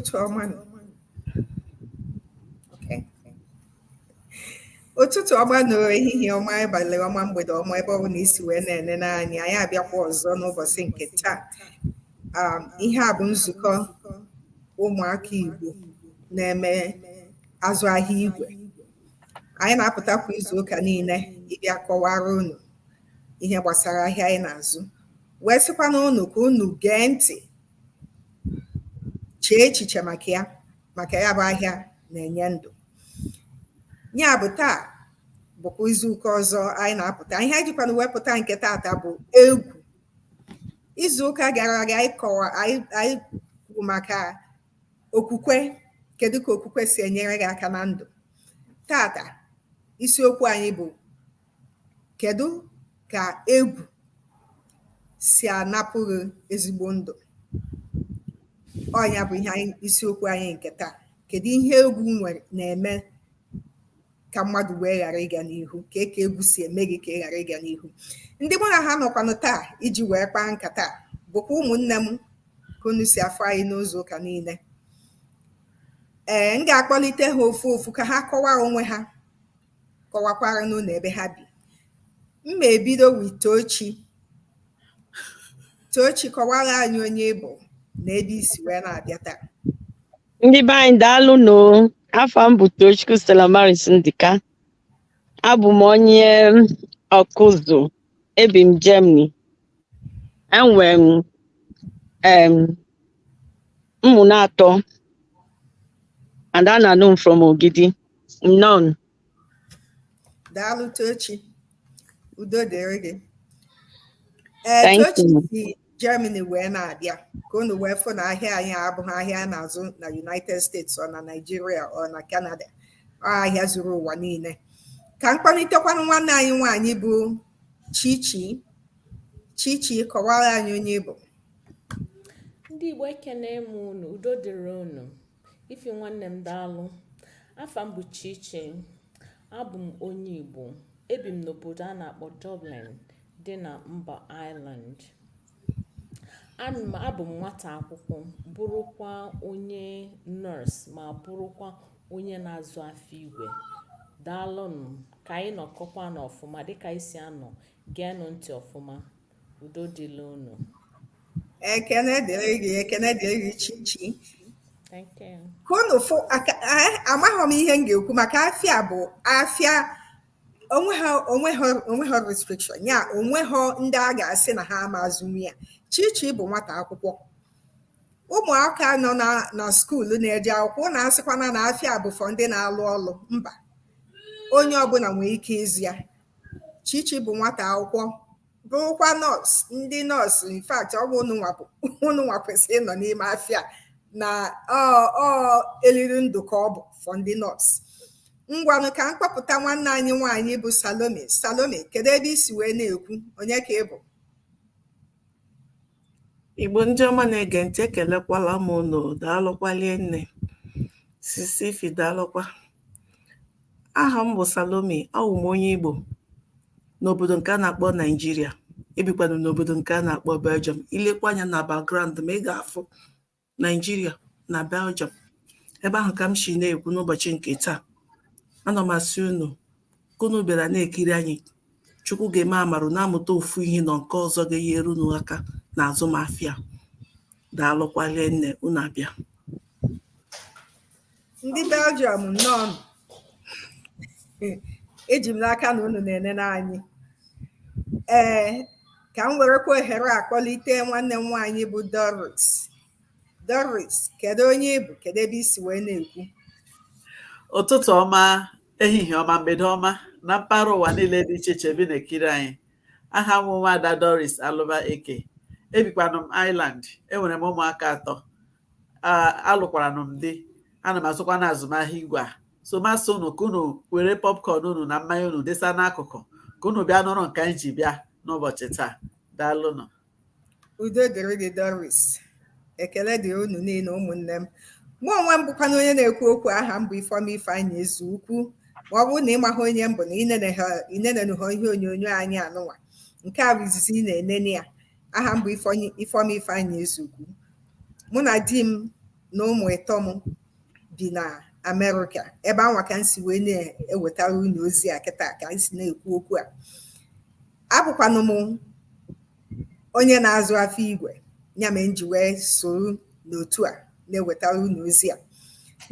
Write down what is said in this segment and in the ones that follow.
ụtụtụ ọma ụtụtụ ọma nụ ehihie ọma abalị ọma mgbede ọma ebe ọ bụla i si wee na-enene anyị anyị abịakwa ọzọ n'ụbọchị nke taa um, ihe a bụ nzukọ ụmụaka Igbo na-eme azụ ahịa igwe anyị na-apụta kwa izu ụka niile ịbịa kọwara unu ihe gbasara ahịa anyị na-azụ wee sịkwanụ unu ka unu gee ntị chee echiche maka ya maka ya bụ ahịa na-enye ndụ ya bụ taa bụkwa izuụka ọzọ anyị na-apụta ihe anyị jikwanụ wee pụta nke taata bụ egwu izuụka gara aga anyị kọwa anyị kwuru maka okwukwe kedu ka okwukwe si enyere gị aka na ndụ taata isiokwu anyị bụ Kedụ ka egwu si anapụ gị ezigbo ndụ? Ọ ya bụ ihe anyị isiokwu anyị nke taa. Kedụ ihe egwu nwere na-eme ka mmadụ wee ghara ịga n'ihu? Ka e ka egwu si eme gị ka ị ghara ịga n'ihu? Ndị mụ na ha nọkwanụ taa iji wee kpaa nkata a bụkwa ụmụnne m ka unu si afụ anyị n'izu ụka niile. Ee, m ga-akpọlite ha ofu ofu ka ha kọwaa onwe ha. kọwakwaranụ unu ebe ha bi. M ma ebido with Tochi. Tochi kọwara anyị onye ị bụ na ebe i si wee na-abịa taa. Ndị be anyị daalụ nụ afa m bụ Tochukwu Stella Maris Ndịka abụ m onye Ọkụzụ ebi m Germany enwere m em, ụmụ naatọ and a na-anụ m from Ogidi Nnọọ nụ. Daalụ Tochi. Udo dịrị gị. Ee, Thank you. Tochi si Germany wee na-abịa ka unu wee fụ na ahịa anyị abụghị ahịa a na-azụ na United States ọ na Nigeria ọ na Canada ọ ahịa zuru ụwa niile. Ka m kpọlitekwanụ nwanne anyị nwaanyị bụ Chichi. Chichi kọwara anyị onye ị bụ. Ndị Igbo ekene m unu udo dịrị unu Ify nwanne m daalụ afa m bụ Chichi abụ m onye Igbo ebi m n'obodo a na-akpọ Dublin dị na mba Ireland abụ m nwata akwụkwọ bụrụkwa onye nurse ma bụrụkwa onye na-azụ afịa igwe daalụnụ ka anyị nọkọkwanụ ọfụma dịka anyị si anọ geenụ ntị ọfụma udo dịrị unu ekene dịrị gị ekene dịrị gị chichi ka unu fụ amaghị m ihe m ga-ekwu maka afịa bụ afịa onweghị restriction ya onweghị ndị a ga-asị na ha ama azụnwu ya chichi bụ nwata akwụkwọ ụmụaka nọ na skuulu na-eje akwụkwọ unu asịkwana na afịa bụ for ndị na-alụ ọlụ mba onye ọbụla nwere ike ịzụ ya Chichi bụ nwata akwụkwọ bụrụkwa nọọsụ ndị nọọsụ in fact ọ bụ unu nwa kwesịrị ịnọ n'ime afịa na ọ eliri ndụ ka ọ bụ for ndị nọọsụ ngwanụ ka m kpọpụta nwanne anyị nwaanyị bụ Salome Salome kedu ebe i si wee na-ekwu onye ka ị bụ Igbo ndị ọma na-ege ntị ekelekwala m unu daalụkwa rinne sisi Ify daalụkwa aha m bụ Salome awụ m onye Igbo n'obodo nke a na-akpọ Naijiria ebikwanụ n'obodo nke a na-akpọ Belgium i lekwa anya na background m a ị ga-afụ Naijiria na Belgium ebe ahụ ka m si na-ekwu n'ụbọchị nke taa ana m asị unu ka unu bịara na-ekiri anyị Chukwu ga-eme amara unu amụta ofu ihe na nke ọzọ ga-enyere unu aka na azụmahịa daalụkwa rinne unu abịa ndị belgium nnọọ eji m n'aka na unu na-enene anyị ee ka m werekwa ohere a kpọlite nwanne m nwaanyị bụ doris doris kedu onye ị bụ kedu ebe i si wee na-ekwu ụtụtụ ọma ehihie ọma mgbede ọma na mpaghara ụwa niile dị iche iche e bi na-ekiri anyị aha m wụ nwaada doris alụba eke ebikwanụ m ireland enwere m ụmụaka atọ alụkwara m di ana m azụkwanụ azụmahịa igwe a so m asị unu ka unu were popcorn unu na mmanya unu desa n'akụkụ ka unu bịa nụrụ nke anyị ji bịa n'ụbọchị taa daalụnụ udo dịrị gị doris ekele dị unu niile ụmụnne m mụ onwe m bụkwanụ onye na-ekwu okwu aha m bụ ifeọma ifeanyị ezeukwu ma ọ bụrụ na ị maghị onye m bụ na i nenenụhọ ihe onyonyo anyị anụnwa nke a bụ izizi ị na-enene ya aha m bụ Ifeoma Ifeanyi Ezeukwu mụ na di m na ụmụ ịtọ m bi na Amerịka ebe anwa ka m si wee na-ewetara unu ozi a kịta ka m si na-ekwu okwu a abụkwanụ m onye na-azụ afịa igwe ya mere m ji wee soro n'otu a na-ewetara unu ozi a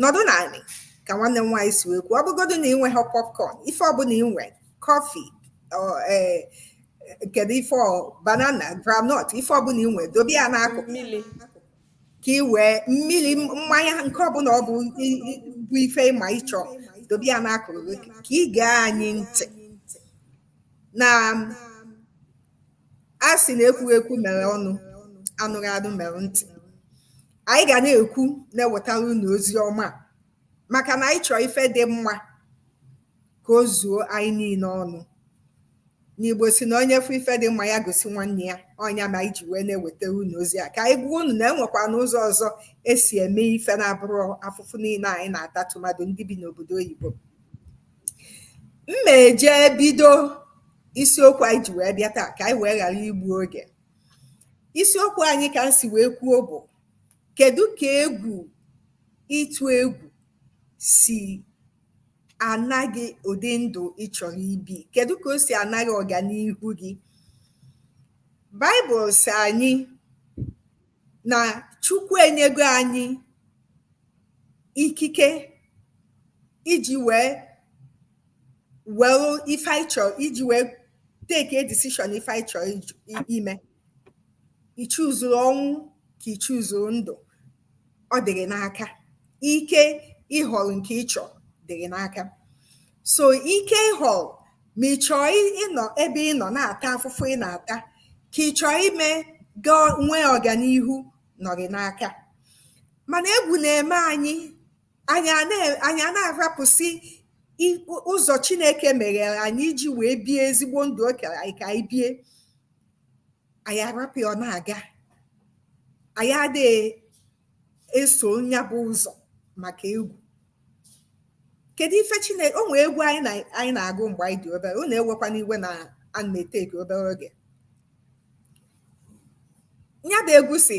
nọdụnụ anị ka nwanne m nwaanyị si wee kwuo ọ bụgodu na i nwehọ popcorn ife ọbụla ị nwe kọfị kedu ife banana groundnut ife ọbụla ị nwee dobe ya n'akụkụ ka ị wee mmiri mmanya nke ọbụla ọ bụ bụ ife ị ma ịchọ dobe ya n'akụkụ ka ị gee anyị ntị na a sị na ekwughị ekwu mere ọnụ anụghị anụ mere ntị anyị ga na-ekwu na-ewetara unu ozi ọma maka na anyị chọọ ife dị mma ka o zuo anyị niile ọnụ na igbo sị na onye fụ ife dị mma nya gosi nwanne ya ọ nya mere anyị ji wee na-ewetara unu ozi a ka anyị gwa unu na e nwekwanụ ụzọ ọzọ e si eme ife na-abụrọ afụfụ niile anyị na-ata tụmadụ ndị bi n'obodo oyibo m ma eje bido isiokwu anyị ji wee bịa taa ka anyị wee ghara igbu oge isiokwu anyị ka m si wee kwuo bụ kedu ka egwu ịtụ egwu si ana gị ụdị ndụ ị chọrọ ibi kedu ka o si ana gị ọganihu gị baịbụl sị anyị na chukwu enyego anyị ikike iji wee were ife anyị chọrọ iji wee take a decision ife anyị chọrọ ime i chuzuru ọnwụ ka i chuzuru ndụ ọ dị gị n'aka ike ịhọrọ nke ị chọrọ dị gị n'aka so ike ịhọrọ ma ị chọọ ị- ịnọ ebe ị nọ na-ata afụfụ ị na-ata ka ị chọọ ime gaa nwee ọganihu nọ gị n'aka mana egwu na-eme anyị anyị a na- anyị a na-arapụsị i- ụzọ chineke meghere anyị iji wee bie ezigbo ndụ o kere anyị ka anyị bie anyị arapụ ya ọ na-aga anyị adịghị eso nya bụ ụzọ maka egwu kedu ife chineke o nwee egwu anyị na- anyị na-agụ mgbe anyị dị obere unu ewekwana iwe na a na-eteki obere oge nya bụ egwu sị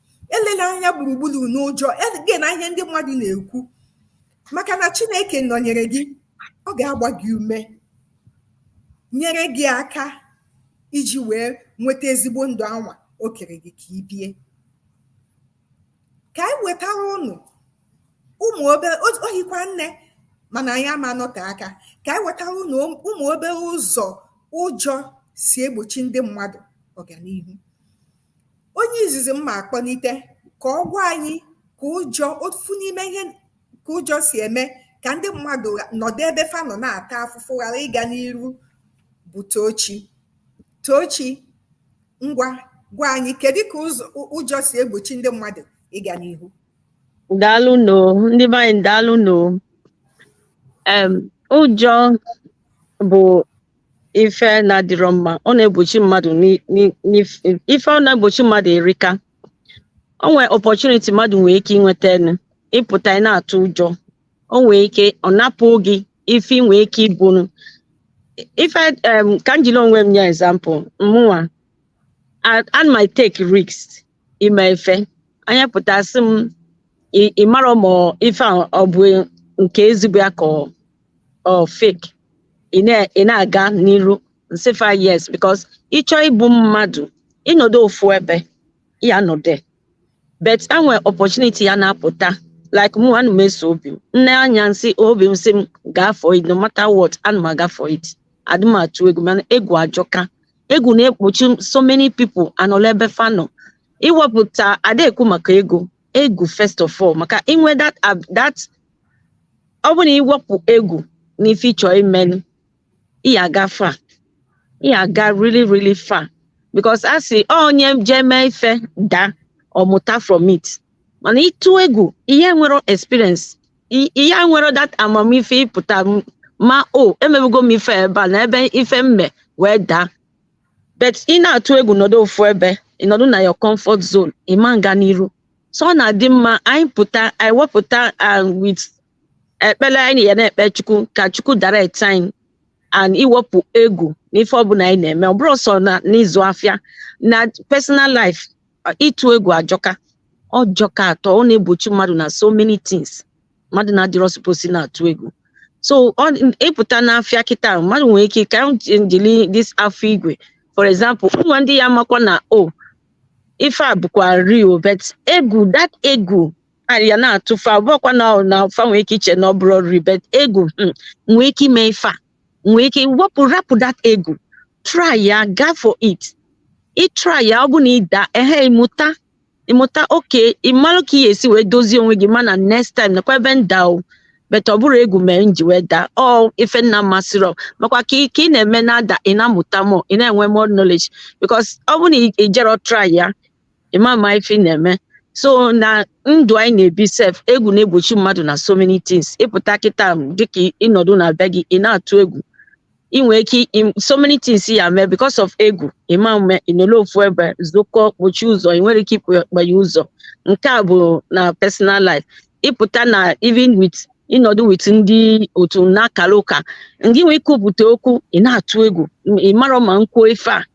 elela anya gburugburu n'ụjọ egena ihe ndị mmadụ na-ekwu maka na chineke nọnyere gị ọ ga-agba gị ume nyere gị aka iji wee nweta ezigbo ndụ anwa o kere gị ka ị bie ka anyị wetara ụnụ ụmụ obere o hikwa nne mana anyị ama anọte aka ka anyị wetara ụnụ ụmụ obere ụzọ ụjọ si egbochi ndị mmadụ ọganihu onye izizi m ma akpọnite ka ọ gwa anyị ka ụjọ ofu n'ime ihe ka ụjọ si eme ka ndị mmadụ gha- nọdụ ebe fa nọ na-ata afụfụ ghara ịga n'iru bụ tochi tochi ngwa gwa anyị kedu ka ụzọ ụ- ụjọ si egbochi ndị mmadụ ịga n'ihu daalụ nụ ndị be anyị daalụ nụ em ụjọ bụ ife na-adịrọ mma ọ na-egbochi mmadụ n'i- n'i- n'if- ife ọ na-egbochi mmadụ erika o nwee opportunity mmadụ nwee ike inwetanụ ịpụta ị na-atụ ụjọ o nwee ike ọ napụ gị ife ị nwee ike ibunu ife em, ka m jiri onwe m nye example mụnwa a- ana m e-take risk ime ife anya pụta sị m "Ị- ị marọ ma ife a ọ bụ nke ezigbo ya ka ọ- ọ fake ị na- ị na-aga n'iru nsị fa yes because ịchọ ịbụ mmadụ ịnọdụ ofu ebe ya nọde but enwe opportunity ya na-apụta like mụ ana m eso obi m nne anya nsị obi m sị m gaa for it no matter what ana m aga for it adị m atụ egwu mana egwu ajọka egwu na-ekpuchi so many people anọla ebe fa nọ iwepụta ada ekwu maka ego egwu first of all maka inwe that ab- that ọ bụ na iwepụ egwu na ife ịchọ imenu ị ya aga far ị ya aga really really far because a sị "Ọ onye jee mee ife daa ọ mụta from it mana ịtụ egwu ị ya enwere experience i- ị ya enwere that amamife ịpụta m- ma o emebugo m ife ebe a na ebe ife m mee wee daa but ị na-atụ egwu nọdụ ofu ebe ị nọdụ na your comfort zone ị ma nga n'iru so ọ na-adị mma anyị pụta anyị wepụta and with ekpere anyị ya na-ekpe chukwu ka chukwu direct anyị and iwepụ egwu n'ife ọbụla anyị na-eme ọ bụrọ sọ na n'ịzụ afịa na personal life ịtụ egwu ajọka ọ jọka atọ ọ na-egbochi mmadụ na so many things mmadụ na-adịrọ supposed na-atụ egwu so ịpụta n'afịa kịta mmadụ nwere ike ka njili this afọ igwe for example enwe ndị ya amakwa na o oh, ife a bụkwa real but egwu that egwu ya na-atụ fa ọ bụkwa na na fa nwee ike iche na ọ bụrọ real but egwu hmm, nwee ike ime ife a nwere ike wepụ rapụ that egwu try ya gaa for it ị try ya ọ bụ na ị daa ehe ị mụta ị mụta okay ị malụ ka ị ya esi wee dozie onwe gị mana next time nekwa ebe nda o but ọ bụrọ egwu mere m ji wee daa ọ ife m na-amasịrọ makwa ka ị ka ị na-eme na-ada ị na-amụta more ị na-enwe more knowledge because ọ bụ na ị jero try ya ị ma ama ife ị na-eme so na ndụ anyị na-ebi sef egwu na-egbochi mmadụ na so many things ịpụta kịta dịka ịnọdụ na be gị ị na-atụ egwu ị nwee ike im- so many things ya mee because of egwu ị ma mme ị nọlụ ofu ebe zụkọ kpochie ụzọ ị nwere ike ịkpanye ụzọ nke a bụ na personal life ịpụta na even with ịnọdụ with ndị otu na-akara ụka ndị nwee ikwupụta okwu ị na-atụ egwu ị marọ ma m kwuo ife a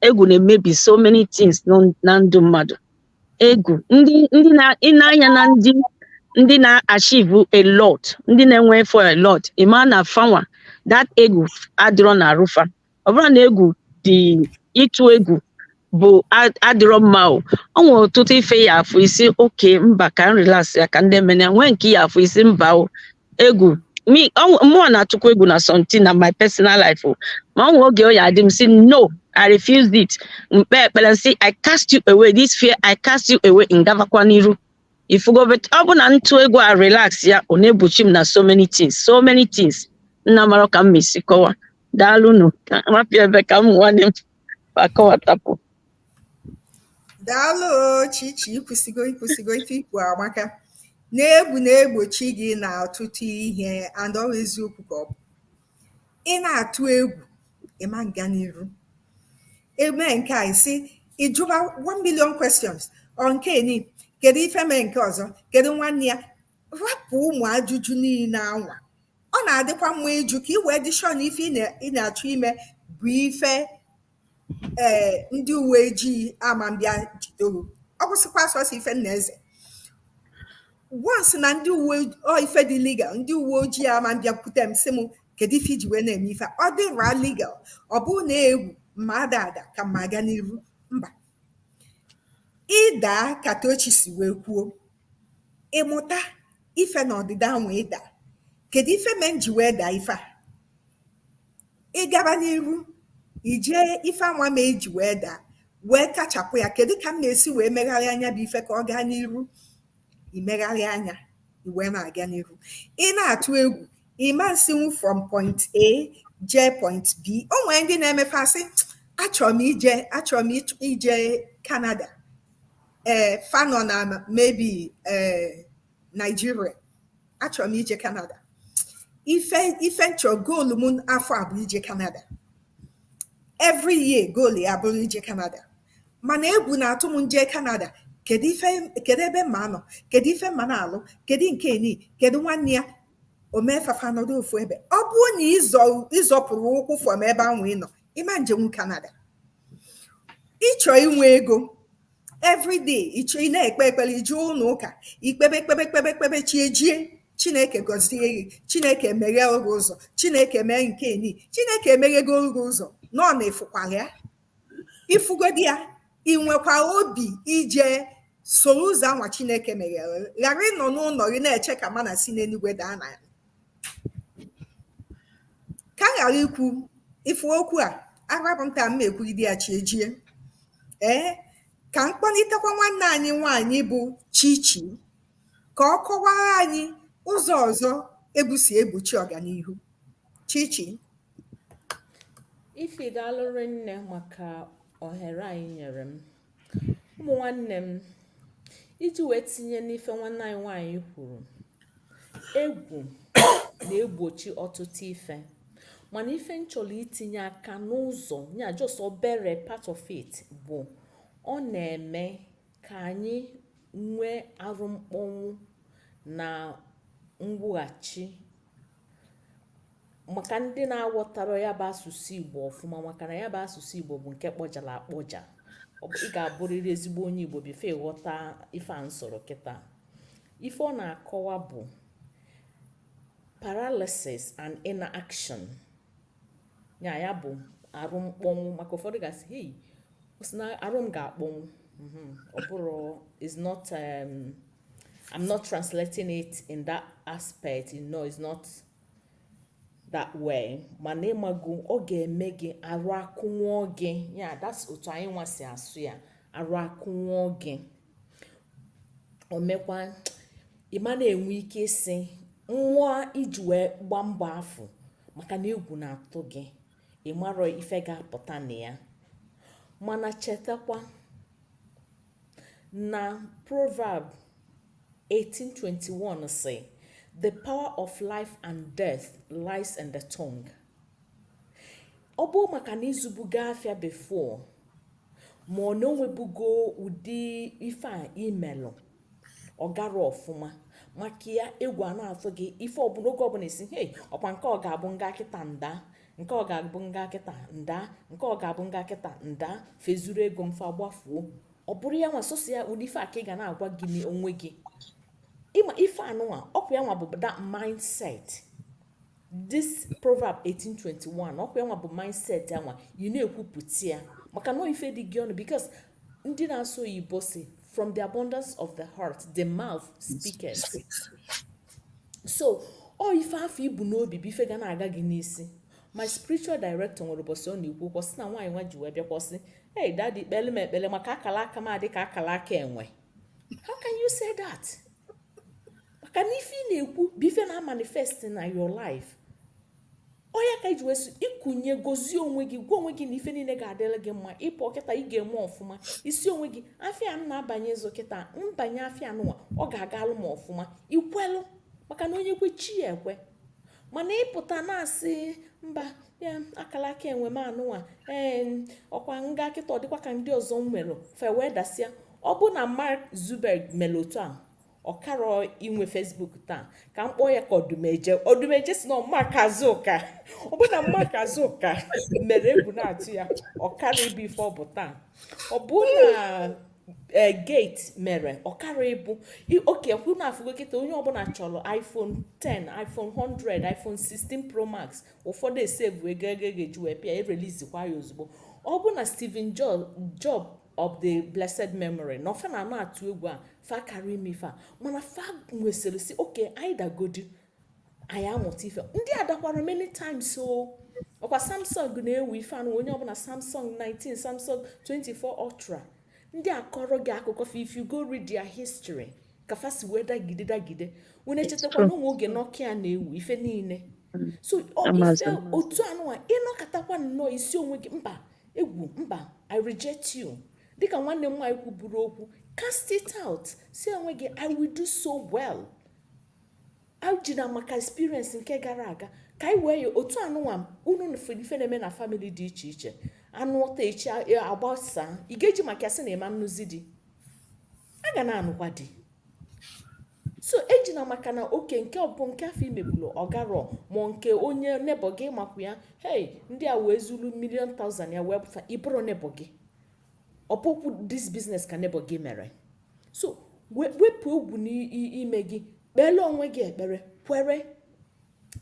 egwu na-emebi so many things nọ- na ndụ mmadụ egwu ndị ndị na ị nee anya na ndị ndị na-achieve a lot ndị na-enwe ife a lot ị ma na fa nwa that egwu adịrọ na arụ fa ọ bụrụ na egwu dị ịtụ egwu bụ a- adịrọ mma o ọ nwere ọtụtụ ife ị ya-afụ ị sị okay mba ka m relax ya ka ndị mana e nwee nke ị ya-afụ ị sị mba o egwu me ọ- mụwa na-atụkwa egwu na something na my personal life o. ma o nwee oge ọ ya-adị m sị no I refuse it m kpee ekpere m sị I cast you away this fear I cast you away m gabakwa n'iru ị fụgo but ọ bụ na m tụ egwu a relax ya ọ na-egbochi m na so many things so many things m na-amarọ ka m ma-esi kọwa daalụnụ ka m rapụ ya ebe ka m nwanne m akọwatapụ daalụ chichi i kwusigo i kwusigo ife i kwu amaka na egwu na-egbochi gị na ọtụtụ ihe and ọ bụ eziokwu ka ọ bụ ị na-atụ egwu ị ma nga n'iru e mee nke a ị sị ị jụba 1 million questions ọ nke ni kedu ife mee nke ọzọ kedu nwanne ya rapụ ụmụ ajụjụ niile anwa Ọ na-adịkwa mma ịjụ ka ị wee dị sure na ife ị na-achọ ime bụ ife ee eh, ndị uwe ojii ama mbịa jido gị ọ kwụsịkwa sọsọ ife m na-eze once na ndị uwe ife dị legal ndị uwe ojii ama mbịakwute m sị m kedu ife i ji wee na-eme ife adịrọ legal ọ bụ na egwu m ma-ada ada ka m ma-aga n'iru mba ị daa ka Tochi si wee kwuo Ị mụta ife na ọdịda anwa ị daa, kedụ ife mee m ji wee daa ife a? Ị gaba n'iru, i jee ife anwa mee i ji wee daa, wee kachapụ ya. Kedụ ka m na-esi wee megharịa ya bụ ife ka ọ gaa n'iru? I megharịa ya, i wee na-aga n'iru. Ị na-atụ egwu, ị ma nsinwu from point A jee point B. O nwee ndị na-eme fa asị, achọrọ m ije achọrọ m ịchọ- ije Canada. ee fa nọ na maybe ee Nigeria achọrọ m ije Canada ife ife m chọ goal m afọ a bụ ije Canada every year goal ya abụrụ ije Canada mana egwu na-atụ m m jee Canada kedu ife kedu ebe m ma-anọ kedu ife m ma na-alụ kedu nke ni kedu nwanne ya o mee fa fa nọdụ ofu ebe ọ bụrụ na ị zọpụrọ ụkwụ from ebe anwa ị nọ ị ma njenwu Canada ị chọọ inwe ego everyday ịchọ ị na-ekpe ekpere i jee ụnọ ụka i kpebe kpebe kpebe kpebe chi ejie chineke gọzie gị chineke meghere gị ụzọ chineke mee nke ni chineke emeghegoro gị ụzọ mana ị fụkwara ya ị fụgodi ya i nwekwa obi ije soro ụzọ anwa chineke meghere ghara ịnọ n'ụnọ gị na-eche ka manna si n'enuigwe daa na ya ka m ghara ikwu ife okwu a arapụ m taa m ekwugide ya chi ejie ee ka m kpọlitekwa nwanne anyị nwaanyị bụ chichi ka ọ kọwara anyị ụzọ ọzọ egwu si egbochi ọganihu chichi ifi daalụ rinne maka ohere a ị nyere m ụmụ nwanne m iji wee tinye n'ife nwanne anyị nwaanyị kwuru egwu na-egbochi ọtụtụ ife mana ife m chọrọ itinye aka n'ụzọ ya just obere part of it bụ ọ na-eme ka anyị nwee arụmkpọnwụ na mwughachi maka ndị na-aghọtarọ ya bụ asụsụ igbo ọfụma maka na ya bụ asụsụ igbo bụ nke kpọjara akpọja ị ga-abụrịrị ezigbo onye igbo before ị ghọta ife a m sụrụ kịta ife ọ na-akọwa bụ paralysis and inaction ya ya bụ arụ mkpọnwụ maka ụfọdụ ga-asị hei ọ sị na arụ m ga-akpọnwụ mhm, ọ bụrọ it's not um, I'm not translating it in that aspect, you know, it's not that way. Mana ịmago ọ ga-eme gị arụ akụnwụọ gị. Yeah, that's otu anyị nwa si asụ ya. Arụ akụnwụọ gị. O mekwa ị ma na-enwe ike isi nwa iji wee gbaa mbọ afụ maka na egwu na-atụ gị. Ị marọ ife ga-apụta na ya. Mana chetakwa Na Proverb 18:21 sị, The power of life and death lies in the tongue. Ọ bụ maka na ị zubugo afịa before ma ọ na o nwebugo ụdị ife i melụ ọ garọ ọfụma maka ya egwu a na-atụ gị ife ọbụla oge ọbụla ị sị hei ọkwa nke ọ ga-abụ m gaa kịta m daa nke ọ ga-abụ m gaa kịta m daa nke ọ ga-abụ m gaa kịta m daa fa ezuru ego m fa agbafuo ọ bụrụ ya nwa sọsọ ya ụdị ife a ka ị ga na-agwa gị n'onwe gị ịma ife anụnwa ọkwa ya nwa bụ that mindset this proverb 1821 ọkwa ya nwa bụ mindset ya nwa ị na-ekwupụta ya maka na ife dị gị ọnụ because ndị na-asụ oyibo sị from the abundance of the heart the mouth speaketh so ọ ife afụ i bu n'obi bụ ife ga na-aga gị n'isi my spiritual director nwere ụbọchị ọ na-ekwu okwu ọ sị na nwaanyị nwa ji wee bịakwa sị hey daddy kpele m ekpele maka akala aka m adị ka akala aka enwe how can you say that maka na ife ị na-ekwu bụ ife na-amanifest na your life ọ ya ka e ji wee sị i kunie gọzie onwe gị gwa onwe gị na ife niile ga-adịrị gị mma ị pụọ kịta ị ga-eme ọfụma ị sị onwe gị afịa m na-abanye ịzụ kịta m banye afịa anụwa ọ ga-agalụ m ọfụma i kwelụ maka na onye kwe chi ya ekwe mana ị pụta na-asị mba akala aka enwe m anụnwa ee ọkwa m gaa kịta ọ dịkwa ka ndị ọzọ m nwere fa wee dasịa ọ bụ na mark zuckerberg mere otu a ọ karọ inwe facebook taa ka m kpọọ ya ka odumeje odumeje sị na ọ mark azụka ọ bụ na mark azụka mere egwu na-atụ ya ọ karọ ịbụ ife ọ bụ taa ọ bụ na e, gate mere ọ karọ ịbụ okay kwu na afụgo kịta onye ọbụla chọrọ iphone 10 iphone 100 iphone 16 pro max ụfọdụ esevu ego a ga-eji wee pịa erelizikwa ya ozugbo ọ bụ na steven job of the blessed memory na ofe na ama atụ egwu a fa karọ ime ife a mana fa wee sịrị sị okay anyị dagodi anyị amụta ife ndị a dakwara many times o ọkwa samsung na-ewu ife anụ onye ọbụla samsung 19 samsung 24 ultra ndị a kọọrọ gị akụkọ fa if you go read their history ka fa si wee dagide dagide wee echetakwa na o nwe oge nokia na-ewu ife niile so ọ ife otu anụwa ị nọkatakwa nnọọ ị sị onwe gị mba egwu mba i reject you dịka nwanne m nwaanyị kwuburu okwu cast it out sị onwe gị i will do so well ejina maka experience nke gara aga ka anyị wee ya otu anụnwa unu ife na-eme na family dị iche iche a nụọ taa echi a gbasaa ị ga-eji maka ya sị na ị ma nnụzi di a ga na-anụkwa di so ejina maka na okay nke ọbụ nke afụ i mebulu ọ garọ ma nke onye neighbour gị ị makwa ya hei ndị a wee zuru million thousand ya wee pụta ị bụrọ neighbour gị ọ bụkwu this business ka neighbour gị mere so wepụ egwu n'ime gị kpeere onwe gị ekpere kwere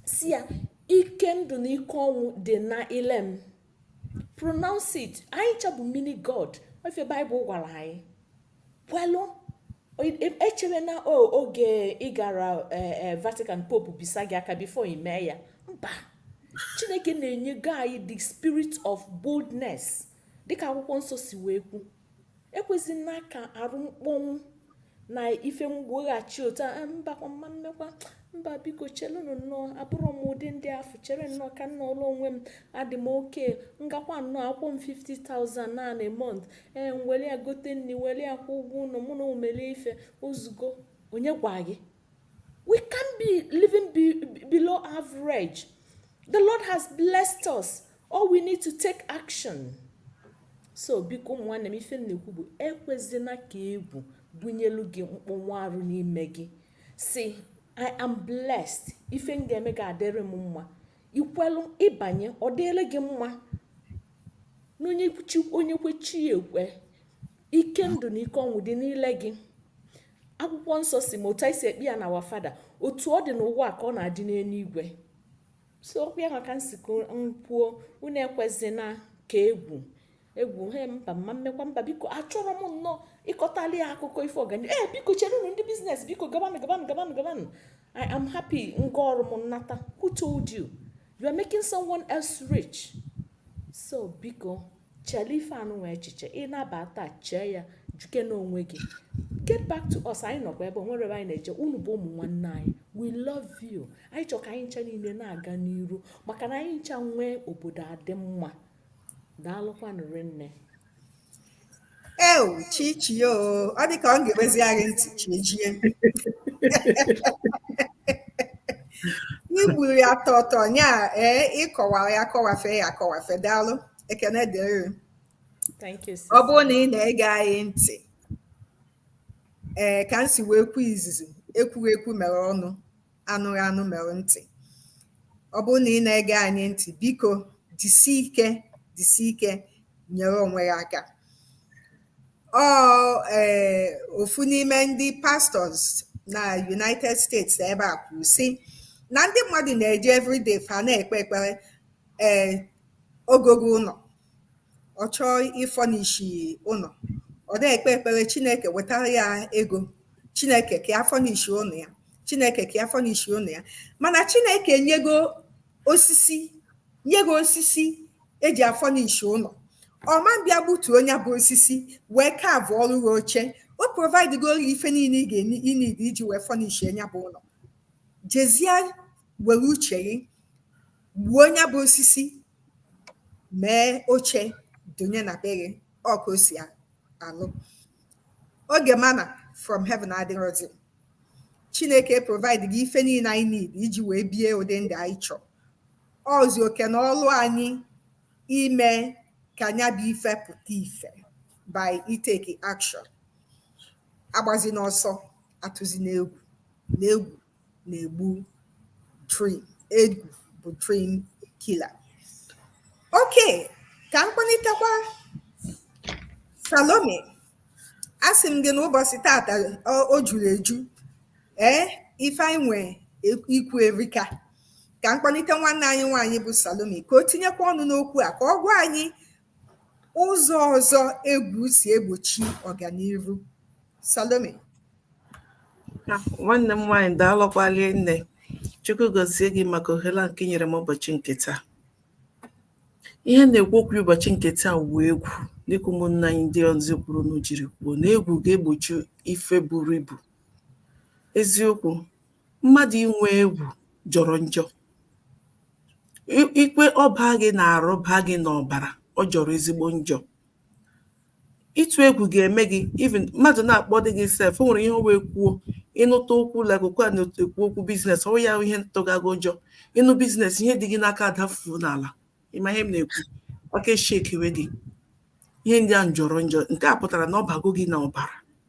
sị ya ike ndụ na ike ọnwụ dị na ile m pronounce it anyị ncha bụ mini god ọ ife bible gwara anyị kwelụ i chere na oge ị gara e, e, vatican pope bisa gị aka before ị mee ya mba chineke nna enyego anyị the spirit of boldness dịka akwụkwọ nsọ si wee kwu ekwezina ka arụ mkpọnwụ na ife mgboghachi otu a mbakwa m ma mmekwa mba biko chelụnụ nnọọ abụrọ m ụdị ndị afụ chere nnọọ ka m nọọrọ onwe m adị m okay m gakwa nnọọ a kwụọ m 50,000 na month ee m were ya gote nri were ya kwụọ ụgwọ ụlọ mụ na ụmụ m elie ife o zugo onye gwa gị We can't be living be, be below average. The Lord has blessed us. All we need to take action. So biko ụmụ nwanne m ife m na-ekwu bụ ekwezina ka egwu bunyelu gị mkpọnwụ arụ n'ime gị sị I am blessed ife m ga-eme ga-adịrị m mma i kwelu ịbanye ọ dịrị gị mma n'onye onye kwe chi ekwe ike ndụ na ike ọnwụ dị n'ile gị akwụkwọ nsọ sị ma otu anyị si ekpe ya na Our Father otu ọ dị n'ụwa ka ọ na-adị n'eluigwe so okwu ya maka nsikọ nkwuo unu ekwezina ka egwu egwu he mba m ma emekwa mba biko achọrọ m nnọọ ị kọtali ya akụkọ ife ọganihu ee eh, biko chere unu ndị business biko gabanụ gabanụ gabanụ gabanụ i am happy m gaa ọrụ m m nata who told you you are making someone else rich so biko chele ife anụnwa echiche ị naba taa chee ya jụkene onwe gị get back to us anyị nọkwa ebe o nwere ebe anyị na-eje unu bụ ụmụ nwanne anyị we love you anyị chọrọ ka anyị ncha niile na-aga n'iru maka na anyị ncha nwee obodo adị mma daalụkwanụ rinne Eu, Chichi, o, ọ dị ka ọ ga-emezi anyị ntị chijie. I gburu ya tọtọ nya ee ị kọwaa ya kọwafe ya akọwafe daalụ ekene dịrị. Thank you, sis. Ọ bụrụ na ị na-ege anyị ntị ee ka m si wee kwuo izizi ekwughị ekwu mere ọnụ anụghị anụ mere ntị ọ bụrụ na ị na-ege anyị ntị biko jisi ike jisi ike nyere onwe gị aka ọ ee eh, ofu n'ime ndị pastors na United States ebe a kwuru sị na ndị mmadụ na-eji everyday fa na-ekpe ekpere ee eh, o gogo ụlọ ọ chọọ ịfurnish ụlọ ọ na-ekpe ekpere chineke wetara ya ego chineke ka ya furnish ụlọ ya chineke ka ya furnish ụlọ ya mana chineke nyego osisi nyego osisi e ji afurnish ụlọ ọ ma bịa gbutuo nya bụ osisi wee carvụọrọ gị oche o providegoro gị ife niile ị ga-eneed iji wee furnish nya bụ ụlọ jezie were uche gị gbuo nya bụ osisi mee oche donye na be gị ọ ka o si alụ oge manna from heaven adịrọzi chineke providego ife niile anyị need iji wee bie ụdị ndụ anyị chọọ ọzi oke na ọlụ anyị ime ka nya bụ ife pụta ife by itake action agbazina ọsọ atụzina egwu n'egwu na-egbu dream egwu bụ dream killer okay ka m kpọlitekwa Salome asị m gị n'ụbọchị tata o juru eju ee ife anyị nwe ikwu erika ka m kpọlite nwanne anyị nwaanyị bụ Salome ka o tinyekwa ọnụ n'okwu a ka ọ gwa anyị Ụzọ ọzọ egwu si egbochi ọganihu. Salome. Ah, nwanne m nwaanyị daalụkwalị nne chukwu gọzie gị maka ohere nke i nyere m ụbọchị nke taa ihe na-ekwu okwu ụbọchị nke taa wụ egwu dịka ụmụnna anyị ndị ọzọ kwuru na jiri kwuo na egwu ga-egbochi ife buru ibu eziokwu mmadụ inwe egwù jọrọ njọ i kwe ọ baa gị n'arụ baa gị n'ọbara ọ jọrọ ezigbo njọ ịtụ egwù ga-eme gị even mmadụ na-akpọdị gị sef o nwere ihe ọ wụ e kwuo ị nụta okwu like okwu a na-ekwu okwu biznes ọ ya ihe ntụgago ụjọ ị nụ biznes ihe dị gị n'aka adafuo n'ala ị ma ihe m na-ekwu aka eshekiwe gị ihe ndị a jọrọ njọ nke a pụtara na ọ bago gị n'ọbara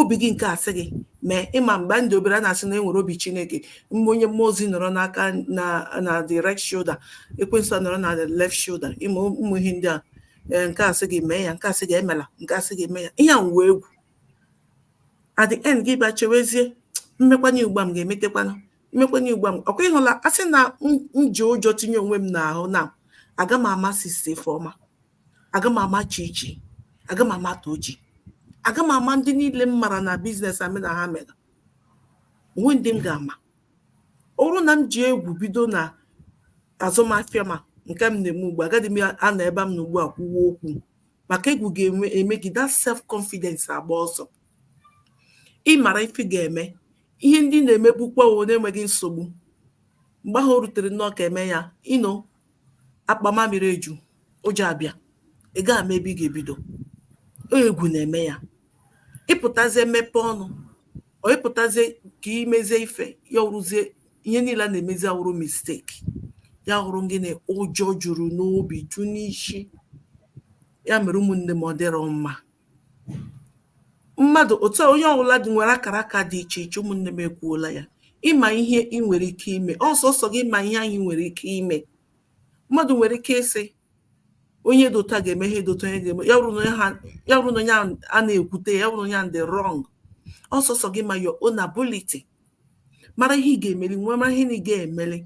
obi gị nke asị gị mee ị ma mgbe m dị obere a na-asị na e nwere obi chineke mgbe onye mmụọ ozi nọrọ n'aka na na the right shoulder ekwensu nọrọ na the left shoulder ị ma ụmụ ihe ndị a eh, nke asị gị mee ya nke asị gị emela nke asị gị eme ya ihe a wụ egwu at the end gị bịa chewezie m mekwanye ugbu a m ga-emetekwanụ m mekwanye ugbu a m ọ kwa ị hụla a sị na m ji ụjọ tinye onwe m n'ahụ na aga m ama sista Ifeọma aga m ama Chichi aga m ama Tochi aga m ama ndị niile m mara na biznes a mị na ha mere o nwe ndị m ga-ama ọ bụrụ na m ji egwu bido na azụmahịa m a nke m na-eme ugbu a agaghị m anọ ebe m nọ ugbu a kwuwa okwu maka egwu ga-eme gị that self confidence agba ọsọ ị mara ife ị ga-eme ihe ndị na-emebukwa o nweghị nsogbu mgbe ahụ o rutere nnọọ ka eme ya ino akpa mamịrị eju ụjọ abịa ị gaghị ama ebe ị ga-ebido egwu na-eme ya ị pụtazie mepe ọnụ o ị pụtazie ka i mezie ife ya wụrụzie ihe niile a na-emezi awụrụ misteki ya wụrụ gịnị ụjọ juru n'obi ju n'isi ya mere ụmụnne m ọ dịrọ mma mmadụ̀ òtu onye ọwụla dị̀ nwèrè akàra akȧ dị ichè ichè ụmụ̀ nne m ekwuola yȧ ị mà ihe i nwèrè ike imė ọ sọsọ̀ gị mà ihe anyị nwèrè ike imė mmadụ̀ nwèrè ike ịsị onye dị òtu à gà-ème ihe dị òtu à onye gà-ème ya wụrụ nà onye ha ya wụrụ nà onye ahụ̀ a na-èkwute ya wụrụ nà onye ahụ̀ dị wrong ọ sọsọ̀ gị mà your own ability mara ihe ị ga-emeli wee mara ihe na ị ga-emeli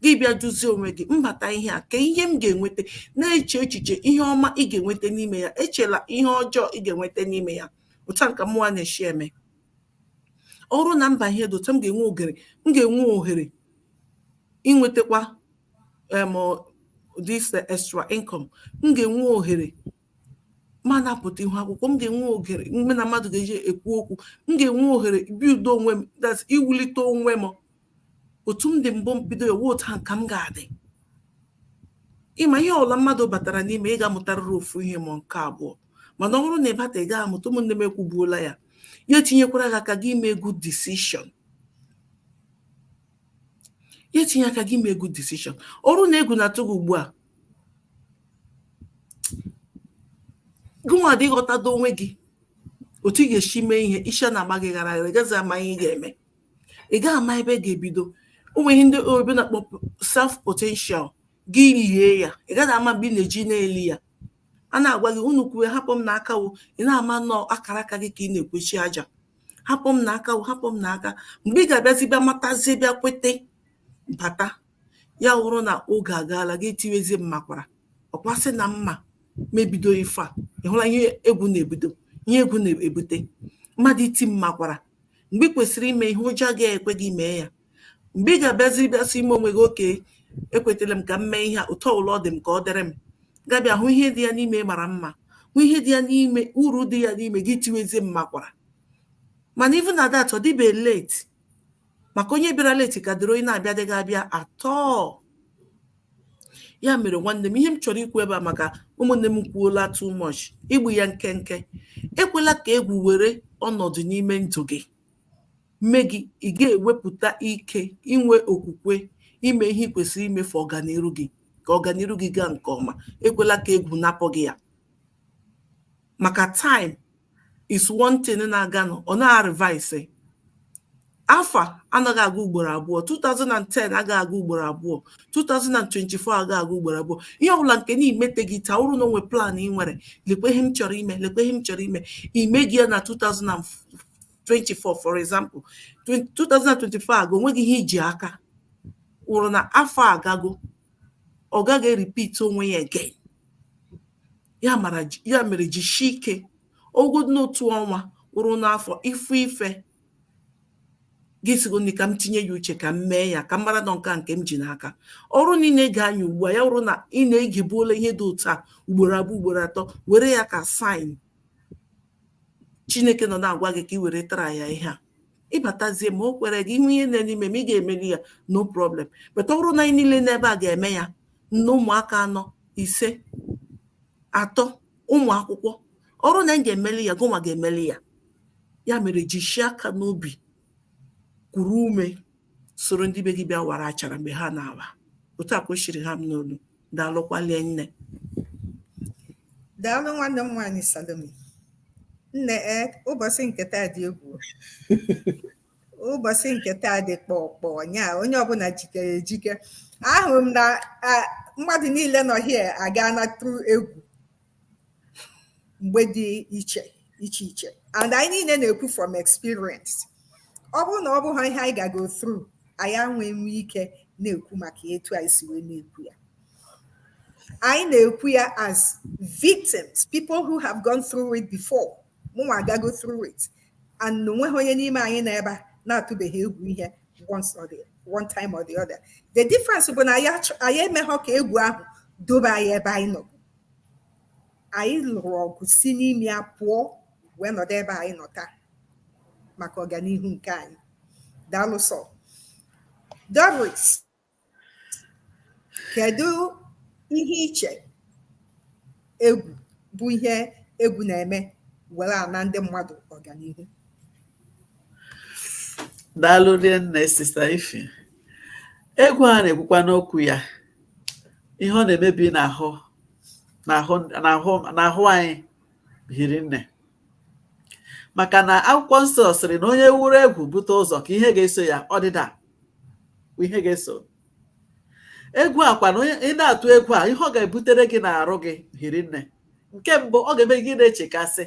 gị bịa jụzie onwe gị m bata ihe a ka ihe m ga-enweta na-eche echiche ihe ọma ị ga-enweta n'ime ya echela ihe ọjọọ ị ga-enweta n'ime ya otu ahụ ka mụnwa na-eshi eme ọ wụrụ na m baa ihe dị otu a m ga-enwe oghere m ga-enwe ohere inwetakwa um this extra income m ga-enwe ohere ma na-apụta ihu akwụkwọ m ga-enwe ohere mụ na mmadụ ga-eji ekwu okwu m ga-enwe ohere ibuild onwe m that's iwulite onwe m otu m dị mbụ bido ewe otu ahụ ka m ga-adị ị ma ihe ọbụla mmadụ batara n'ime ị ga-amụtarịrị ofu ihe ma nke abụọ mana ọ bụrụ na ị bata ị gaghị amụta ụmụnne m ekwubuola ya ya etinyekwara gị aka gị ime good decision ya etinye aka gị ime good decision ọ wụrụ na egwu na-atụ gị ugbu a gụnwa dị ghọtado onwe gị otu ị ga-esi mee ihe isi a na-agba gị ghara ghara ị gaghị ama ihe ị ga-eme ị gaghị ama ebe ị ga-ebido o nwe ihe ndị oyibo na-akpọ self potential gị lie ya ị gaghị ama mgbe ị na-eji na-eli ya a na-agwa gị unu kwuwe hapụ m na aka wo ị naghị ama na ọ akara aka gị ka ị na-ekwuchi aja hapụ m na aka wo hapụ m na aka mgbe ị ga-abịazi bịa matazie bịa kwete bata ya wụrụ na oge agaala gị tiwezi m makwara ọ kwa sị na m ma m ebido ife a ị hụla ihe egwu na-ebido ihe egwu na-ebute mmadụ iti m makwara mgbe ị kwesịrị ime ihe ụjọ agaghị ekwe gị mee ya mgbe ị ga-abịazi bịa sị ime onwe gị okay ekwetara m ka m mee ihe a otu ọbụla ọ dị m ka ọ dịrị m gị abịa hụ ihe dị ya n'ime mara mma hụ ihe dị ya n'ime uru dị ya n'ime gị tiwezie m makwara mana even na that ọ dịbe late maka onye bịara late kadịrị onye na-abịadịghị abịa at all ya mere nwanne m ihe m chọrọ ikwu ebe a maka ụmụnne m kwuola too much igbu ya nkenke ekwela ka egwu were ọnọdụ n'ime ndụ gị mee gị ị ga-ewepụta ike inwe okwukwe ime ihe ị kwesịrị ime for ọganiru gị ka ọganiru gị gaa nke ọma ekwela ka egwu napụ gị ya maka time is one thing na-aganụ ọ naghị a-reverse afọ anaghị aga ugboro abụọ 2010 agaghị aga ugboro abụọ 2024 agaghị aga ugboro abụọ ihe ọbụla nke na ị meteghị taa ọ wụrụ na o nwe plan ị nwere lekwe ihe m chọrọ ime lekwe ihe m chọrọ ime i meghị ya na 2024 for example 2024 agaa o nweghị ihe i ji aka wụrụ na afọ agago ọ gaghị repeat onwe ya again ya mere jisie ike ogodu n'otu ọnwa kwụrụ n'afọ ị fụ ife gị sịgodị ka m tinye ya uche ka m mee ya ka m mara na ọ nke a nke m ji n'aka ọ wụrụ na ị na-ege anyị ugbu a ya wụrụ na ị na-egebuola ihe dị otu a ugboro abụọ ugboro atọ were ya ka sign chineke nọ na-agwa gị ka ị weretara ya ihe a ịbatazie ma o kwere gị inwe ihe na-eme ime ma ị ga-emeli ya no problem but ọ bụrụ na anyị niile n'ebe a ga-eme ya nne ụmụaka anọ ise atọ ụmụ akwụkwọ ọ bụrụ na anyị ga-emeli ya gụnwa ga-emeli ya ya mere jishie aka n'obi kuru ume soro ndị be gị bịa wara achara mgbe ha na-awa otu a ka o siri ha m n'olu daalụkwalie nne daalụ nwanne m nwaanyị Salome nne e ụbọchị nke taa dị egwu ụbọchị nke taa dị kpọkpọ nya onye ọbụla jikere ejike ahụrụ m na mmadụ niile nọ here agana through egwu mgbe dị iche iche and anyị niile na-ekwu from experience ọ bụrụ na ọ bụghị ihe anyị gago through anyị ama enwe ike na-ekwu maka etu anyị si wee na-ekwu ya anyị na-ekwu ya as victims people who have gone through it before mụnwa agago through it and o nweghị onye n'ime anyị nọ ebe a na-atụbeghị egwu ihe once or the one time or the other the difference bụ na anyị emeghọ ka egwu ahụ dobe anyị ebe anyị nọ anyị lụrụ ọgụ si n'ime ya pụọ wee nọdụ ebe anyị nọ taa maka ọganihu nke anyị daalụ so Doris kedu ihe i che egwu bụ ihe egwu na-eme were ana ndị mmadụ ọganihu daalụ rinne sister Ify egwu a na-ekwukwanụ okwu ya ihe ọ na-emebi n'ahụ n'ahụ anyị hiri nne maka na akwụkwọ nsọ sịrị na onye wuru egwu bute ụzọ ka ihe ga-eso ya ọdịda ihe ga-eso egwu a kwanụ ị na-atụ egwu a ihe ọ ga-ebutere gị n'arụ gị hiri nne nke mbụ ọ ga-eme gị na-echekasị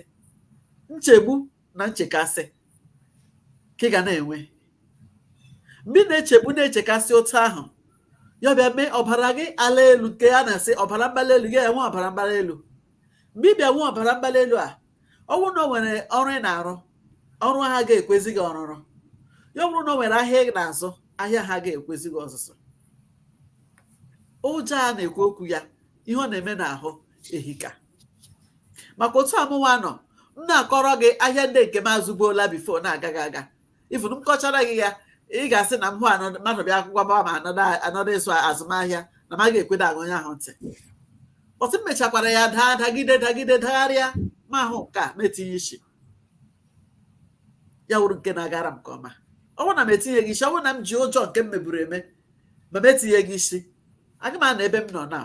nchegbu na nchekasị ka ị ga na-enwe mgbe ị na-echegbu na-echekasị otu ahụ ya bịa mee ọbara gị ala elu nke a na-asị ọbara mgbali elu gị enwe ọbara mgbali elu mgbe ị bịa nwee ọbara mgbali elu a ọ wụrụ na o nwere ọrụ ị na-arụ ọrụ ahụ aga-ekwezi gị ọrụrụ ya bụrụ na o nwere ahịa ị na-azụ ahịa ahụ aga-ekwezi gị ọzụzụ ụjọ a na-ekwu okwu ya ihe ọ na-eme n'ahụ ehika maka otu a mụwa nọ m na-akọrọ gị ahịa ndị nke m azụbuola before na-agaghị aga ifuru m kọchara gị ya ị ga-asị na m hụ mmadụ bịa akwụkwọ gbawa ma anọdụ ịzụ azụmahịa na m ga-ekweda ege onye ahụ ntị but m mechakwara ya daa dagide dagide dagharịa m ahụ nke a m etinye isi ya wụrụ nke na-agara m nke ọma ọ bụrụ na m etinyeghị isi ọ bụrụ na m ji ụjọ nke m meburu eme ma m etinyeghị isi aga m anọ ebe m nọ na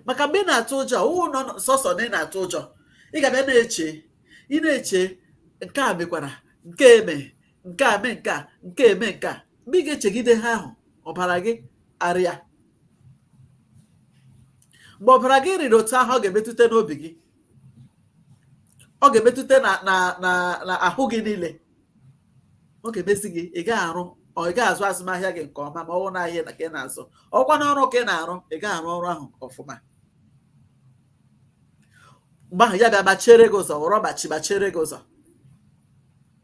maka mgbe ị na-atụ ụjọ ọ wụ nọ sọsọ na ị na-atụ ụjọ ị ga-abịa na-eche ị na-eche nke a mekwara nke eme nke a mee nke a nke eme nke a mgbe ị ga-echegide ha ahụ ọbara gị arịa mgbe ọbara gị rịrị otu ahụ ọ ga-emetụta n'obi gị ọ ga-emetụta na na na ahụ gị niile ọ ga-emezi gị ị gaghị arụ ọ ị gaghị azụ azụmahịa gị nke ọma ma ọ bụ na ahịa ka ị na-azụ ọ wụkwa na ọrụ ka ị na-arụ ị gaghị arụ ọrụ ahụ ọfụma mgbe ahụ ya bịa gbachiere gị ụzọ ghọrọ gbachi gbachiere gị ụzọ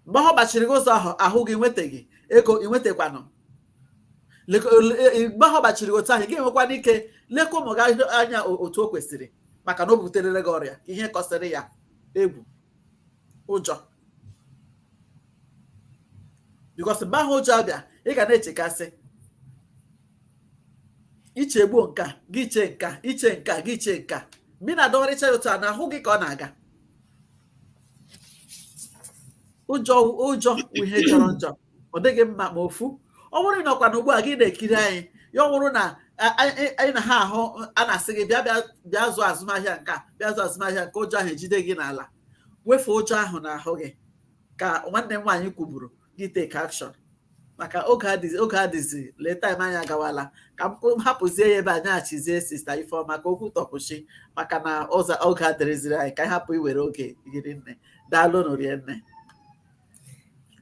mgbe ahụ gbachiri gị ụzọ ahụ ahụ gị nwetaghị ego ị nwetakwanụ mgbe ahụ gbachiri gị otu ahụ gị enwekwana ike lekwa ụmụ gị anya otu o kwesịrị maka na o buterele gị ọrịa ihe kọsịrị ya egwu ụjọ because mgbe ahụ ụjọ abịa ị ga na-echekasị i chegbuo nke a gị chee nke a i chee nke a gị chee nke a mgbe ị na-adọgharịcha ya otu a n'ahụ gị ka ọ na-aga ụjọ wụ ihe jọrọ njọ ọ dịghị mma ma ofu ọ bụrụ na ị nọkwa na ugbu a gị na-ekiri anyị ya bụrụ na anyị na ha ahụ a na-asị gị bịa bịa zụọ azụmahịa nke a bịa zụọ azụmahịa nke a ụjọ ahụ ejide gị n'ala wefe ụjọ ahụ n'ahụ gị ka nwanne m nwaanyị kwuburu gị take action maka oge adịzi lee time anyị agawala ka m hapụzie ya ebe a nyeghachizie sista Ifeoma ka o kwutụ kwụsị maka na oge adịrịziri anyị ka anyị hapụ iwere oge rinne daalụ nụ rinne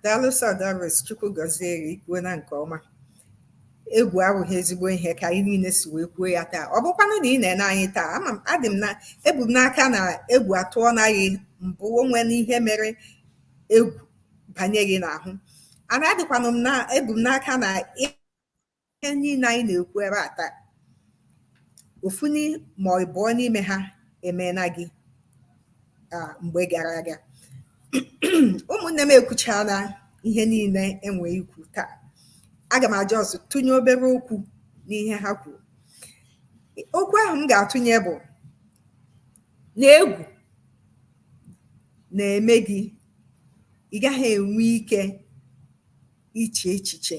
daalụ sọ Doris chukwu gọzie gị i kwuona nke ọma egwu abụghị ezigbo ihe ka anyị niile si wee kwuo ya taa ọ bụkwanụ na ị na-ene anyị taa ama m adị m na ebu m n'aka na egwu atụọna gị mbụ o nwena ihe mere egwu banye gị n'ahụ ana adịkwanụ m na ebu m n'aka na ihe niile anyị na-ekwu ebe a taa ofu ma ọ bụ abụọ n'ime ha emeena gị mgbe gara aga ụmụnne m ekwuchaana ihe niile e nwe ikwu taa aga m just tụnye obere okwu n'ihe ha kwuru okwu ahụ m ga-atụnye bụ na egwu na-eme gị ị gaghị enwe ike iche echiche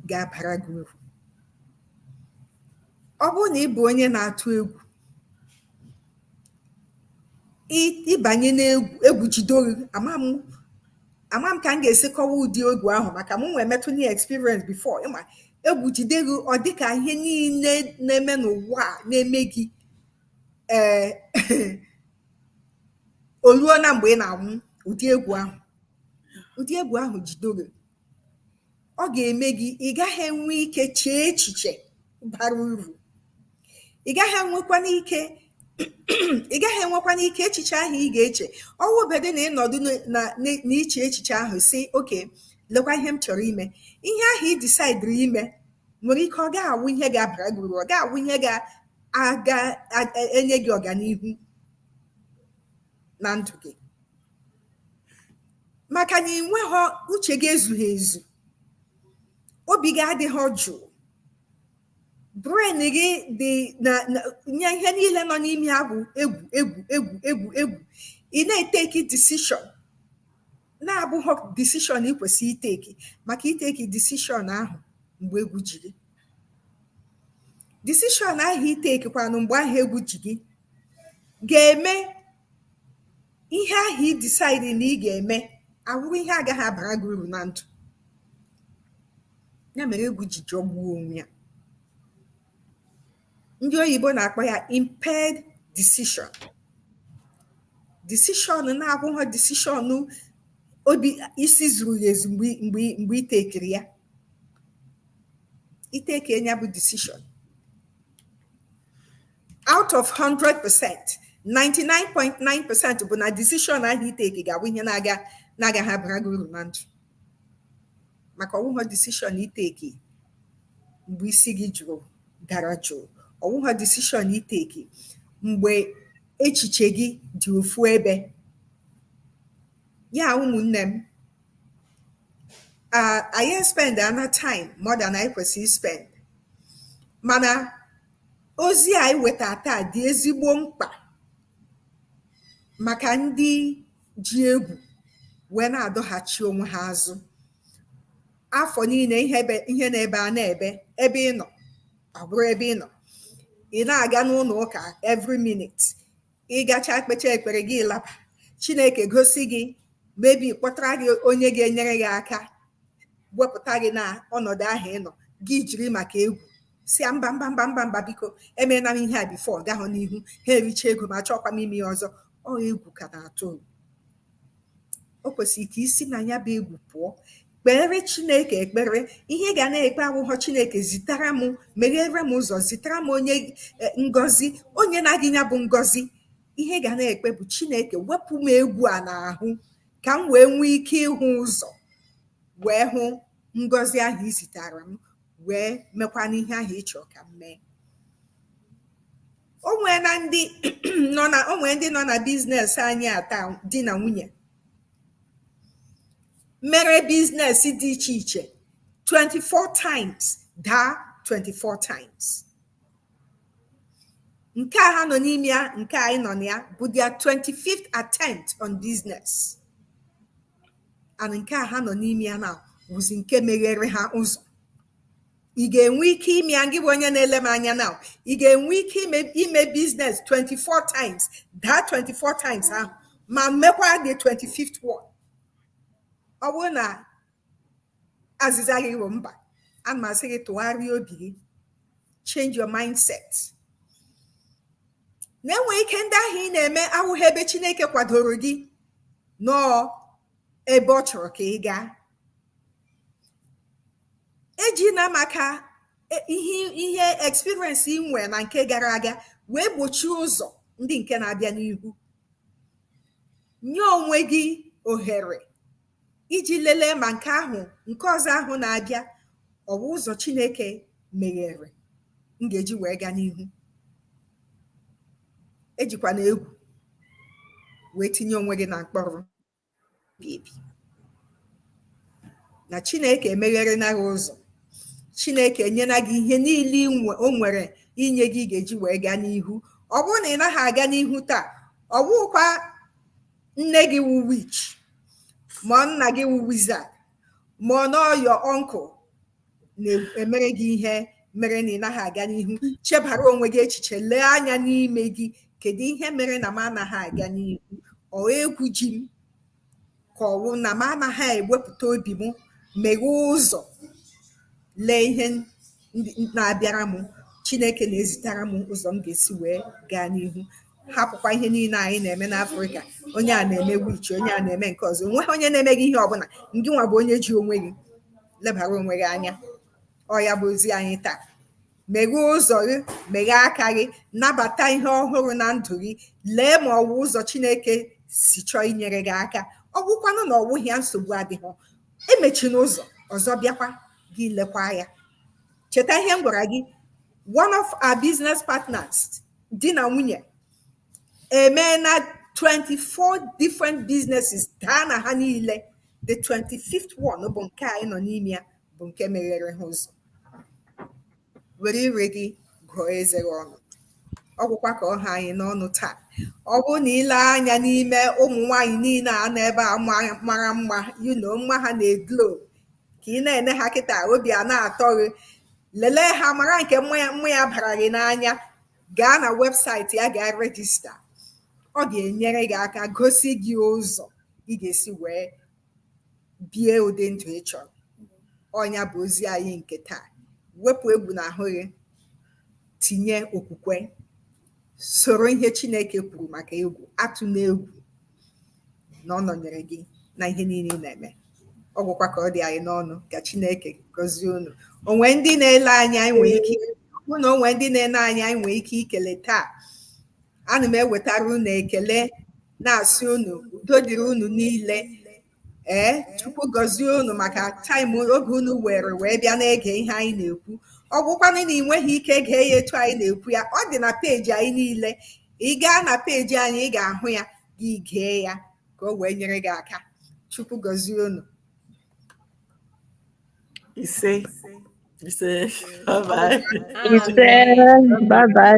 ga-abara gị uru. Ọ bụrụ na ị bụ onye na-atụ egwu, ị banye n'egwu egwu jide gị, ama m ama m ka m ga-esi kọwa ụdị egwu ahụ maka mụwa emetụna ya experience before ị ma egwu jide gị ọ dị ka ihe niile na-eme n'ụwa na-eme gị ee eh, o luo na mgbe ị na-enwe ụdị egwu ahụ ụdị egwu ahụ jide gị ọ ga-eme gị ị gaghị enwe ike chee echiche bara uru ị gaghị enwekwana ike ị gaghị enwekwana ike echiche ahụ ị ga-eche ọwụbedo na ị nọdụ n'iche echiche ahụ sị okay lekwa ihe m chọrọ ime ihe ahụ ị disaidiri ime nwere ike ọ ga-awụ ihe ga-abara gị uru ọ ga-awụ ihe ga-enye gị ọganihu na ndụ gị maka na ị nweghọ uche gị ezughị ezu obi gị adịghị jụụ brain gị dị na na- nye ihe niile nọ n'ime ya bụ egwu egwu egwu egwu egwu ị na-eteki decision na-abụghị decision ị kwesịrị iteki maka iteki decision ahụ mgbe egwu ji gị decision ahụ itekikwanụ mgbe ahụ egwu ji gị ga-eme ihe ahụ ị decide na ị ga-eme awụrụ ihe agaghị abara gị uru na ndụ ya mere egwu ji jọgbuo onwe ya ndị oyibo na-akpọ ya impaired decision decision na-abụghị decision obi isi zuru ezu mgbe mgbe mgbe itekiri ya iteke ya bụ decision out of 100 percent 99.9 percent bụ na decision ahụ iteki ga-awụ ihe na-aga na-agaghị abara gị uru na ndụ maka ọwụghọ decision iteki mgbe isi gị jụrụ dara jụụ ọwụghọ decision iteki mgbe echiche gị dị ofu ebe ya ụmụnne m anyị spend ana time more than anyị kwesịrị spend mana Ozi a anyị wetara taa dị ezigbo mkpa maka ndị ji egwu wee na-adọghachi onwe ha azụ. Afọ niile ihe ebe ihe na-ebe a na-ebe ebe ị nọ ọ bụrụ ebe ị nọ. Ị na-aga n'ụlọ ụka every minute. Ị gachaa kpechaa ekpere gị laba. Chineke gosi gị maybe kpọtara gị onye ga-enyere gị aka wepụta gị na ọnọdụ ahụ ị nọ gị jiri maka egwu sị ya mba mba mba mba mba biko emeena m ihe a before ọ gahụ n'ihu ha ericha ego m achọghọkwa m ime ya ọzọ ọ egwu ka na-atụ o kwesịrị ka i si na ya bụ egwu pụọ kpeere chineke ekpere ihe ị ga na-ekpe awụghọ chineke zitara m meghere m ụzọ zitara m onye e, ngozi o nyena gị ya bụ ngozi ihe ị ga na-ekpe bụ chineke wepụ m egwu a n'ahụ ka m wee nwee ike ịhụ ụzọ wee hụ ngọzi ahụ i zitara m wee mekwanụ ihe ahụ ị chọrọ ka m mee o nwee ndị nọ na biznes anyị a taa di na nwunye mere biznes dị iche iche 24 times daa 24 times nke a ha nọ n'ime ya nke anyị nọ na ya bụ their 25th attempt on business and nke a ha nọ n'ime ya now wụzi nke meghere ha ụzọ ị ga-enwe ike ime ya gị bụ onye na-ele m anya now ị ga-enwe ike ime biznes 24 times daa 24 times ahụ ma mekwa the 25th one ọ bụrụ na azịza gị bụ mba ana m asị gị tụgharịa obi gị change your mindset na e nwee ike ndị ahụ ị na-eme awụghị ebe Chineke kwadoro gị nọọ ebe ọ chọrọ ka ị gaa ejina maka ihe experience i nwee na nke gara aga wee gbochie ụzọ ndị nke na-abịa n'ihu nye onwe gị ohere iji lelee ma nke ahụ nke ọzọ ahụ na-abịa ọ wụ ụzọ Chineke meghere m ga-eji wee gaa n'ihu ejikwana egwu wee tinye onwe gị na mkpọrọ na Chineke emegherena gị ụzọ Chineke enyela gị ihe niile o nwere inye gị ị ga-eji wee gaa n'ihu ọ bụrụ na ị naghị aga n'ihu taa ọ bụkwa nne gị wụ witch ma ọ nna gị wụ wizard ma ọ na ọ your uncle na-emere gị ihe mere na ị naghị aga n'ihu chebara onwe gị echiche lee anya n'ime gị kedu ihe mere na m anaghị aga n'ihu ọ egwu ji m ka ọ wụ na m anaghị ewepụta obi m meghee ụzọ lee ihe na-abịara m chineke na-ezitara m ụzọ m ga-esi wee gaa n'ihu hapụkwa ihe niile anyị na-eme n'afrịka onye a na-eme wichi onye a na-eme nke ọzọ o nweghị onye na-eme gị ihe ọbụla ngị nwa bụ onye ji onwe gị lebara onwe gị anya ọ ya bụ ozi anyị taa meghee ụzọ gị meghee aka gị nabata ihe ọhụrụ na ndụ gị lee ma ọ wụ ụzọ chineke si chọọ inyere gị aka ọ bụkwanụ na ọ wụghị ya nsogbu adịghị emechina ụzọ ọzọ bịakwa gị i lekwaa ya cheta ihe m gwara gị one of our business partners di na nwunye emeena 24 different businesses daa na ha niile the 25th one bụ nke anyị nọ n'ime ya bụ nke meghere ha ụzọ were ire gị gụọ eze gị ọnụ ọ gwụkwa ka ọ ha anyị n'ọnụ taa ọ bụrụ na i lee anya n'ime ụmụ nwaanyị niile a nọ ebe a mara mma you know mma ha na-eglo ka ị na-ene ha kịta obi a na-atọ gị lelee ha mara nke mma ya bara gị n'anya gaa na webụsaịtị ya gaa rejista ọ ga-enyere gị aka gosi gị ụzọ ị ga-esi wee bie ụdị ndụ ị chọrọ ọ nya bụ ozi anyị nke taa wepụ egwu na ahụ gị tinye okwukwe soro ihe Chineke kwuru maka egwu atụna egwu na ọ nọnyere gị na ihe niile ị na-eme ọ gwụkwa ka ọ dị anyị n'ọnụ ka Chineke gọzie unu o nwe ndị na-ele anya anyị nwee ike hụ na o nwe ndị na-ele anyị anyị nwee ike ikele taa ana m ewetara unu ekele na-asị unu udo dịrị unu niile ee chukwu gọzie unu maka taịm oge unu were wee bịa na-ege ihe anyị na-ekwu ọ bụkwanụ na ị nweghị ike gee ya etu anyị na-ekwu ya ọ dị na peji anyị niile ị gaa na peji anyị ị ga-ahụ ya gị gee ya ka o wee nyere gị aka chukwu gọzie unu ise ise bye bye ise bye bye